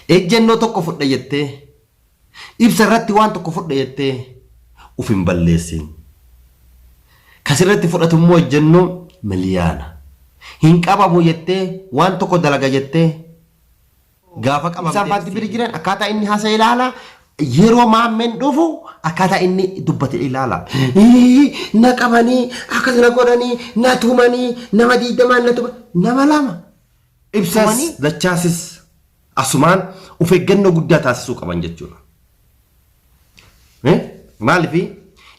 Ejjennoo tokko fudha jettee, ibsa irratti waan tokko fudha jettee uf hin balleessiin. Ka sirratti fudhatu immoo ejjennoo miliyaana. Hin qabamu jettee waan tokko dalaga jettee gaafa qabamtee. Ibsaan faatti biri jiran akkaataa inni haasa'e ilaala. Yeroo maammeen dhufu akkaataa inni dubbate ilaala. Na qabanii, akkas na godhanii, na tumanii, nama diiddamaan na tuman. Nama lama. Ibsas, Wani- dachaasis asumaan of eeggannoo guddaa taasisuu qaban jechuudha. Eh? Maalifi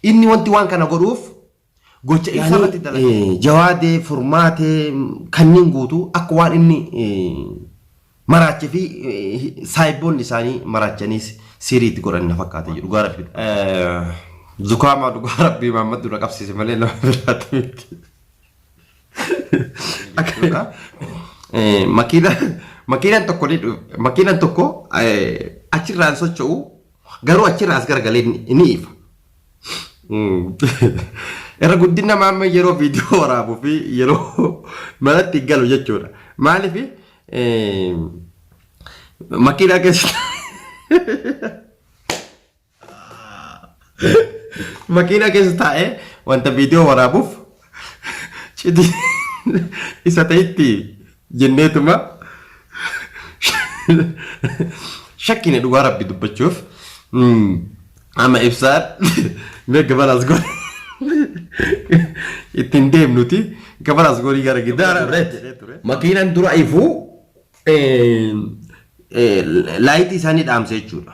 inni wanti waan kana godhuuf gocha ibsa irratti dalaga. Eh, Jawaadee, furmaatee mm, kanneen guutuu akka waan inni eh, maraachee fi eh, saayiboonni isaanii maraachanii si- siirii itti godhan na fakkaata jedhu gaara fi. Zukaamaa dhugaa rabbii maammad dura qabsiise malee nama biraatti miti. Akkana. Eh, Makiina makiinaan tokko ni dhu- makiinaan tokko eh, achirraan socho'u garuu achirraa as garagalee ni ni ifa. Mm. Irra guddina maamma yeroo viidiyoo waraabuu fi yeroo manatti galu jechuudha. Maaliif makiinaa keessa Makiinaa keessa taa'ee wanta viidiyoo waraabuuf cidii isa ta'itti jenneetuma shakkine dhugaa rabbi dubbachuuf amma ibsaan mee gabaraas godhe ittiin deemnuti gabaraas godhii gara giddaara makiinaan dura ifuu laayitii isaanii dhaamse jechuudha.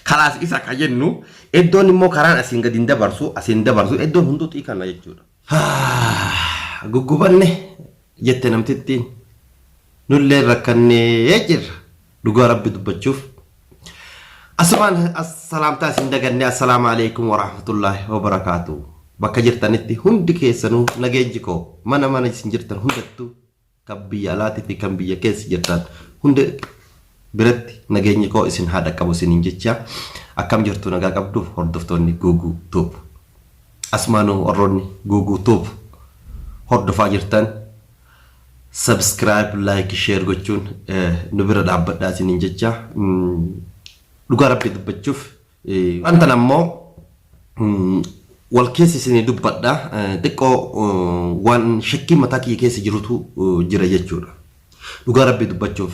Kalaas isa ka jennu eddoon immoo karaan asiin gadi hin dabarsu asiin dabarsu eddoon hunduu xiikanna jechuudha. Guggubanne jette namtittiin nullee rakkannee jirra dhugaa rabbi dubbachuuf. Asumaan salaamtaa isin daganne assalaamu alaikum warahmatullaahi wabarakaatu. Bakka jirtanitti hundi keessanuu nageenyi koo mana mana isin jirtan hundattuu Kan biyya alaatii fi kan biyya keessa jirtan hunda biratti nageenyi koo isin haa dhaqqabu isiniin jechaa akkam jirtu nagaa qabdu hordoftoonni Guuguu Tuub. Asumaanuu warroonni Guuguu Tuub hordofaa jirtan subscribe, like, share gochuun nu bira dhaabbadhaa isiniin jechaa dhugaa rabbii dubbachuuf Waan tana immoo wal keessa isinii dubbadha. Xiqqoo waan shakkii mataa kiyya keessa jirutu jira jechuudha. Dhugaa rabbii dubbachuuf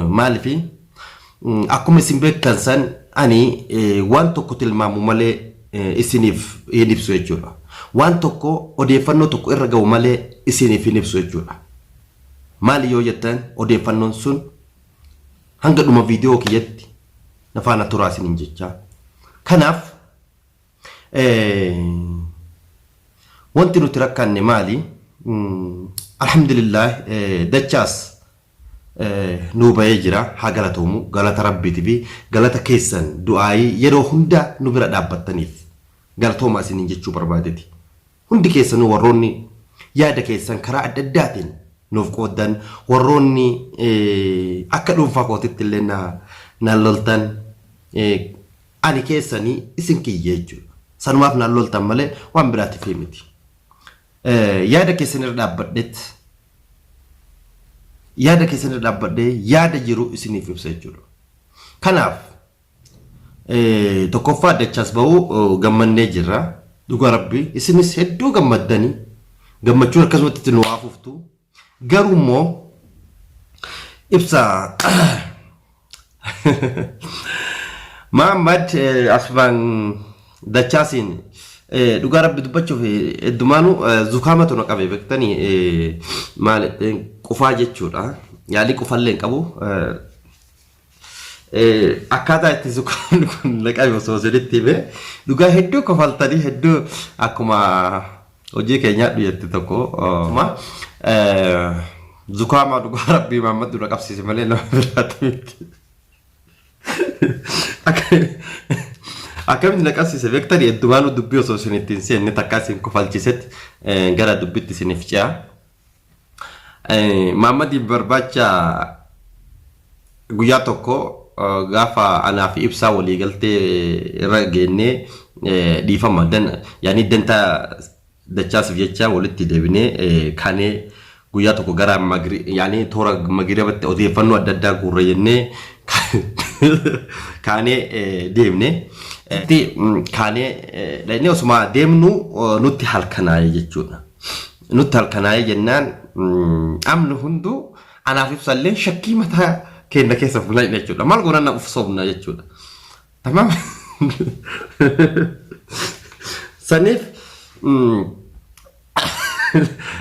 maalifi akkuma isin beektan san ani waan tokko tilmaamu malee isiniif hin ibsu jechuudha. Waan tokko odeeffannoo tokko irra ga'u malee isiniif hin ibsu jechuudha. Maali yoo jettan odeeffannoon sun Hanga dhuma viidiyoo kiyyatti na faana turaa isiniin jechaa. Kanaaf wanti nuti rakkanne maali? Alhamdulillah dachaas nuu bahee jira haa galatoomu galata rabbiitii fi galata keessan du'aayii yeroo hunda nu bira dhaabbattaniif galatoomaa isiniin jechuu barbaadeti. Hundi keessanuu warroonni yaada keessan karaa adda addaatiin nuuf qooddan, warroonni akka dhuunfaa kootitti illee naan loltan ani keessanii isin kiyya jechuudha. Sanumaaf naan loltan malee waan biraatiif miti. Yaada keessan irra dhaabbadheet yaada keessan irra dhaabbadhee yaada jiru isiniif ibsa jechuudha. Kanaaf Tokkoffaa dachaas ba'uu gammannee jirra. Dhugaa rabbi isinis hedduu gammaddanii gammachuun akkasumatti itti nu haa fuftu. Garuu immoo ibsa Maammad Asfaan Dachaasiin dhugaa rabbi dubbachuuf heddumaanuu zukaamatu na qabe beektanii maal qufaa jechuudha. Yaalii qufallee hin qabu. akkaataa itti zukaroonni kun naqame osoo isinitti hime dhugaa hedduu kofaltanii hedduu akkuma hojii keenyaa dhuyatti tokko ma zukaamaa dhugaa rabbii maammad dura qabsiise malee nama biraatti miti. Akkamitti na qabsiise beektanii heddumaanuu dubbii osoo isinitti hin seenne takka isin kofalchiisetti gara dubbitti isiniif ce'a. Maammadiif barbaacha guyyaa tokko gaafa anaa fi ibsaa walii galtee irra geennee dhiifama yaanii dantaa dachaasif jecha walitti deebinee kanee guyyaa tokko gara yaanii toora magirabatti odeeffannoo adda addaa guurra jennee kaanee deemne. Kaanee dhaqnee osuma deemnu nutti halkanaa'e jechuudha. Nutti halkanaa'ee jennaan amni hunduu anaaf ibsallee shakkii mataa keenya keessa fuula jechuudha. Maal goona na ufsoomna jechuudha. Tamaam. Saniif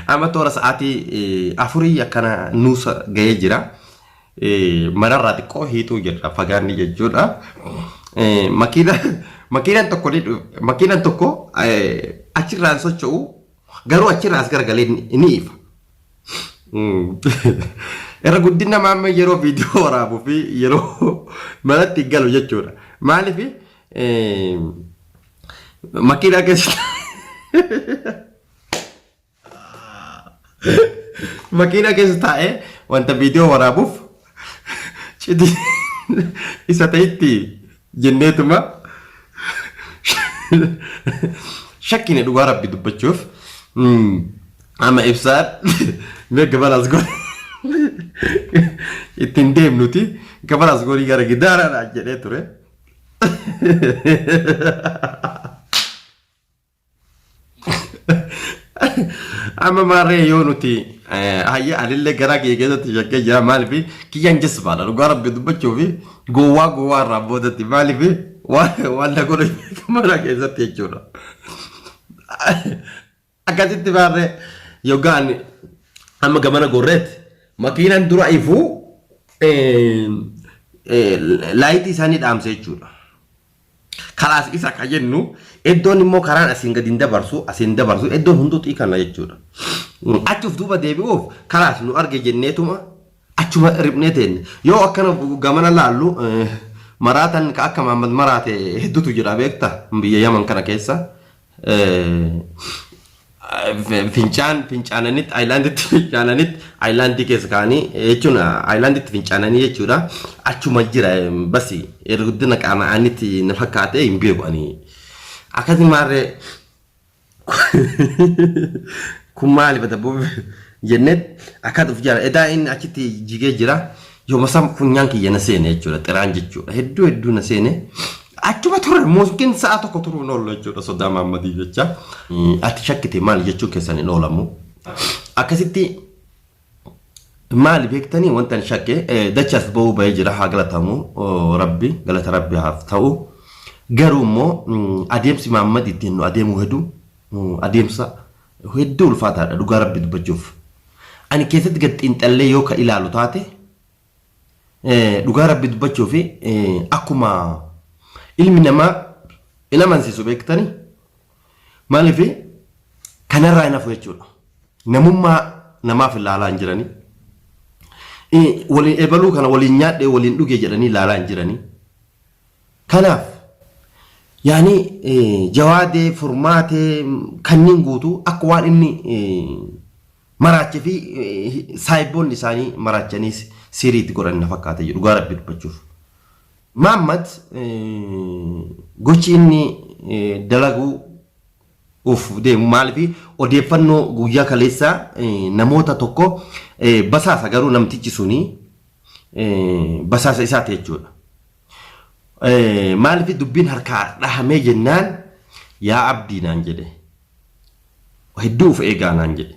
amma toora sa'aatii afurii akkana nuusa ga'ee jira. Manarraa xiqqoo hiituu jirra fagaanni jechuudha. Makiinaan tokko makiinaan tokko achirraan socho'u Garuu achirraa as garagalee ni ifa. Irra guddina maammee yeroo viidiyoo waraabuu fi yeroo manatti galu jechuudha. Maaliif makiinaa keessa makiinaa keessa taa'ee wanta viidiyoo waraabuuf Cidii isa ta'itti jenneetuma shakkine dhugaa rabbi dubbachuuf amma ibsaan mee gabalaas godhe ittiin deemnuti gabalaas godhii gara gidaaraadha jedhee ture. Amma maarree yoo nuti hayya anillee garaa kiyya keessatti shakkee jira maaliif kiyyaan jazbaadha dhugaa rabbi dubbachuuf gowwaa gowwaa irraa boodatti maaliif waan na godhu mana keessatti jechuudha. Akkasitti maarree yookaan amma gamana gorreetti makiinaan dura ifuu laayitii isaanii dhaamse jechuudha. Kalaas isa ka jennu eddoon immoo karaan asiin gadi hin dabarsu asiin hin dabarsu eddoon hunduu xiikanna jechuudha. Achi of duuba deebi'uuf kalaas nu arge jenneetuma achuma riphne teenne. Yoo akkana gamana laallu maraatan ka akka Maammad maraate hedduutu jira beekta biyya Yaman kana keessa. fincaan fincaananitti ayilaanditti fincaananitti ayilaandii keessa kaanii jechuun ayilaanditti fincaananii jechuudha achuma jira basi irra guddina qaana'anitti na fakkaate hin beeku ani akkasi maarree kun maali bada jennet akkat of jala edaa inni achitti jigee jira Yooma san funyaan kiyya na seene jechuudha xiraan jechuudha hedduu hedduu na seene achuma turre mooskiin sa'a tokko turuu hin oollu jechuudha sodaa maammadii jecha ati shakkite maal jechuun keessan hin oolamu akkasitti maali beektanii wanta hin shakke dachas ba'uu ba'ee jira haa galatamu rabbi galata rabbi haaf ta'u garuu immoo adeemsi maammadi ittiin nu adeemuu hedduu adeemsa Hedduu ulfaataadha dhugaa rabbi dubbachuuf. Ani keessatti gad xiinxallee yoo ka ilaalu taate dhugaa rabbi dubbachuuf akkuma ilmi namaa hin amansiisu beektani maaliif kanarraa hin hafu jechuudha. Namummaa namaaf ilaalaa hin jirani. Waliin ebaluu kana waliin nyaadhee waliin dhugee jedhanii ilaalaa hin jirani. Kanaaf yaani Jawaadee, Furmaatee kanniin guutuu akka waan inni maraache fi saahiboonni isaanii maraachaniis siirii itti godhan na fakkaata jedhu dhugaa rabbi dubbachuuf. Maammad gochi inni dalaguu uuf deemu maalifi odeeffannoo guyyaa kaleessaa namoota tokko basaasa garuu namtichi suni basaasa isaati jechuudha. Maalifi dubbiin harkaa dhahamee jennaan yaa abdii naan jedhe hedduu of eegaa naan jedhe.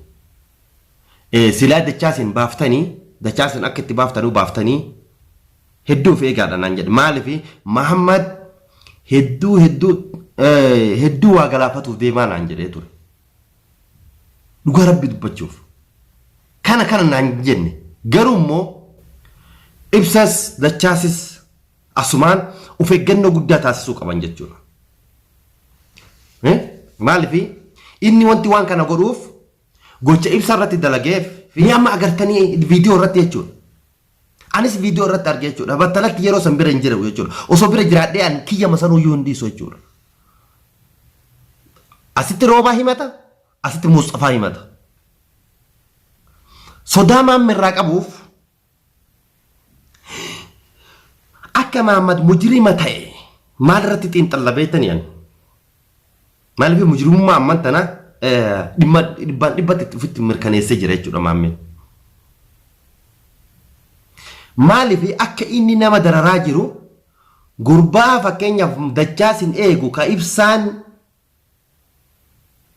Silaa dachaasin baaftanii dachaasin akka itti baaftanuu baaftanii Hedduu of eegaadha naan jedhe. Maaliif Mahammad hedduu hedduu hedduu waa galaafatuuf deemaa naan jedhee ture. Dhugaa rabbi dubbachuuf. Kana kana naan jenne. Garuu immoo ibsas dachaasis asumaan of eeggannoo guddaa taasisuu qaban jechuudha. Maaliif inni wanti waan kana godhuuf gocha ibsa irratti dalageef ni amma agartanii viidiyoo irratti jechuudha. Anis viidiyoo irratti arge jechuudha. Battalatti yeroo san bira hin jiru jechuudha. Osoo bira jiraadhee an kiyyama sanuu iyyuu hin dhiisu jechuudha. Asitti roobaa himata, asitti Muusxafaa himata. Sodaa maamma irraa qabuuf akka maammad mujirima ta'e maal irratti xiinxalla beektanii ani? Maaliif mujrimummaa amman tana dhimma dhibbaan dhibbatti ofitti mirkaneessee jira jechuudha maammeen. Maaliif akka inni nama dararaa jiru gurbaa fakkeenyaaf dachaa sin eegu ka ibsaan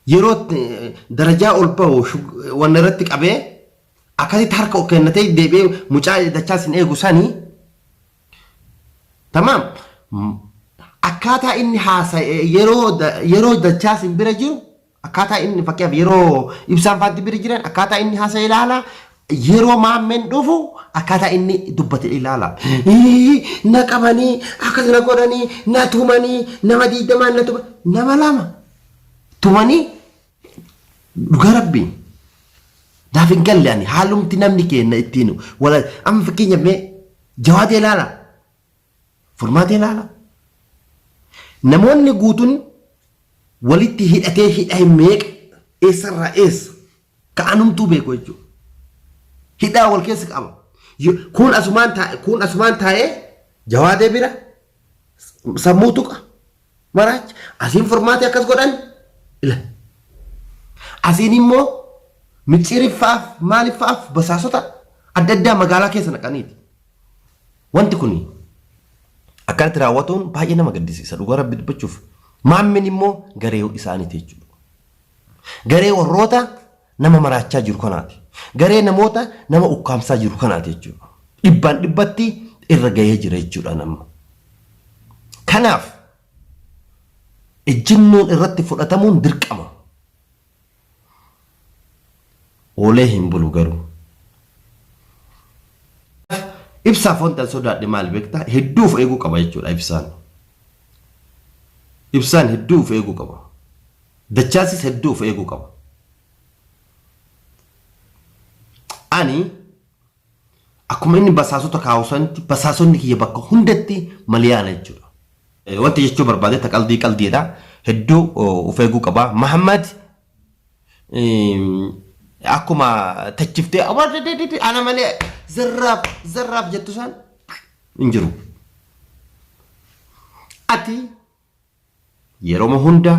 yeroo darajaa ol ba'u wanna irratti qabee akkasitti harka kennatee deebi'ee mucaa dachaa sin eegu sanii Tamaam. Akkaataa inni haasa'e yeroo yeroo dachaa sin bira jiru akkaataa inni fakkeenyaaf yeroo ibsaan faatti bira jiran akkaataa inni haasa'e ilaala yeroo maammeen dhufu akkaataa inni dubbate ilaala. Na qabanii akkas na godhanii na tumanii nama diidamaan na tuma nama lama tumanii Dhugaa rabbii naaf hin galle ani haalumti namni keenna ittiin wala amma fakkeenyaaf mee jawaadee ilaala furmaatee ilaala namoonni guutuun walitti hidhatee hidha hin meeqa eessarraa eessa ka anumtuu beeku jechuudha. Hidhaa wal keessa qaba. Yo- Kun asumaan taa'e kun asumaan taa'ee jawaadee bira sammuu tuqa maraacha asiin furmaatee akkas godhan ila asiin immoo micciiriffaaf maaliffaaf basaasota adda addaa magaalaa keessa naqaniiti wanti kun akkanatti raawwatuun baay'ee nama gaddisiisa dhugaa rabbi dubbachuuf maammin immoo garee isaaniiti jechuudha garee warroota nama maraachaa jiru kanaati. Garee namoota nama ukkaamsaa jiru kanaati jechuudha. Dhibbaan dhibbatti irra gahee jira jechuudhaan amma. Kanaaf ejjennoon irratti fudhatamuun dirqama. Oolee hin bulu garuu. Ibsaaf wanti an sodaadhe maal beektaa? Hedduu of eeguu qaba jechuudha ibsaan. Ibsaan hedduu of eeguu qaba. Dachaasis hedduu of eeguu qaba. Ani akkuma inni basaasota kaa'u sanatti basaasonni kiyya bakka hundatti maliyaana jechuudha. Wanti jechuu barbaade ta qaldii qaldiidha. Hedduu of eeguu qaba. Mahammad akkuma tachiftee ana malee zarraaf zarraaf jettu san hin jiru. Ati Yeroma hunda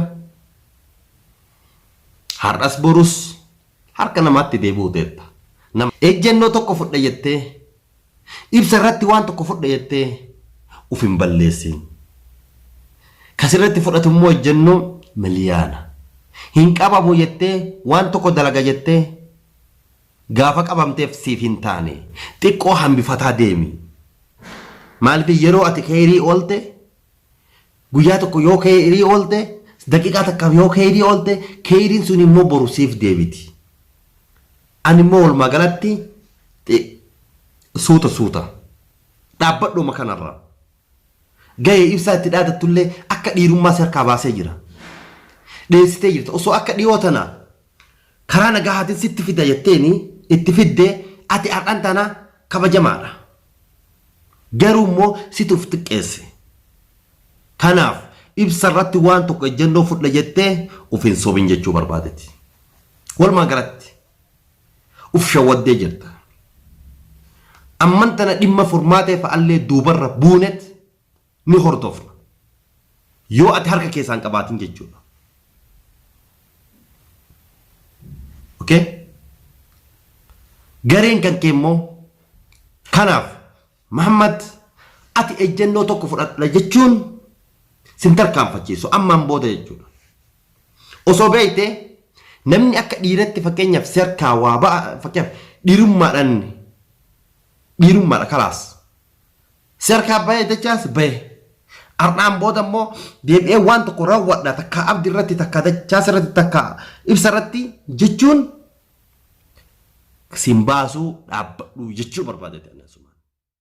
har'as borus harka namaatti deebi'uteetta. Nama ejjennoo tokko fudha jettee, ibsa irratti waan tokko fudha jettee uf hin balleessiin. Ka sirratti fudhatu immoo ejjennoo miliyaana. Hin qabamu jettee waan tokko dalaga jettee gaafa qabamteef siif hin taane. Xiqqoo hambifataa deemi. Maaliif yeroo ati kheeyrii oolte Guyyaa tokko yoo keyrii oolte, daqiiqaa takkaaf yoo keyrii oolte, keyriin sun immoo boru siif deebiti. Ani immoo walumaa galatti xi- suuta suuta dhaabbadhuma kanarra. Gahee ibsaa itti dhaadattullee akka dhiirummaa si harkaa baasee jira. Dheessitee jirta. Osoo akka dhiyoo tana karaa nagahaatiin sitti fida jetteeni itti fidde ati har'an tana kabajamaadha. Garuu immoo situ of xiqqeesse. Kanaaf ibsa irratti waan tokko ejjennoo fudha jettee of hin sobin jechuu barbaadeti. Walumaa galatti of shawwaddee jirta. Amman tana dhimma furmaatee fa'allee duubarra buunet. ni hordofna. Yoo ati harka keessaa hin qabaatin jechuudha. Okay? Gareen kan kee immoo kanaaf Mahammad ati ejjennoo tokko fudhadha jechuun sin tarkaanfachiisu ammaan booda jechuudha. Osoo beekte namni akka dhiiratti fakkeenyaaf serkaa waa ba'a fakkeenyaaf dhiirummaadhaan dhiirummaadha kalaas. Si harkaa bahee dachaas bahe. Har'aan booda immoo deebi'ee waan tokko raawwadha takkaa abdi irratti takkaa dachaas irratti takkaa ibsa irratti jechuun siin baasuu dhaabbadhu jechuu barbaadate.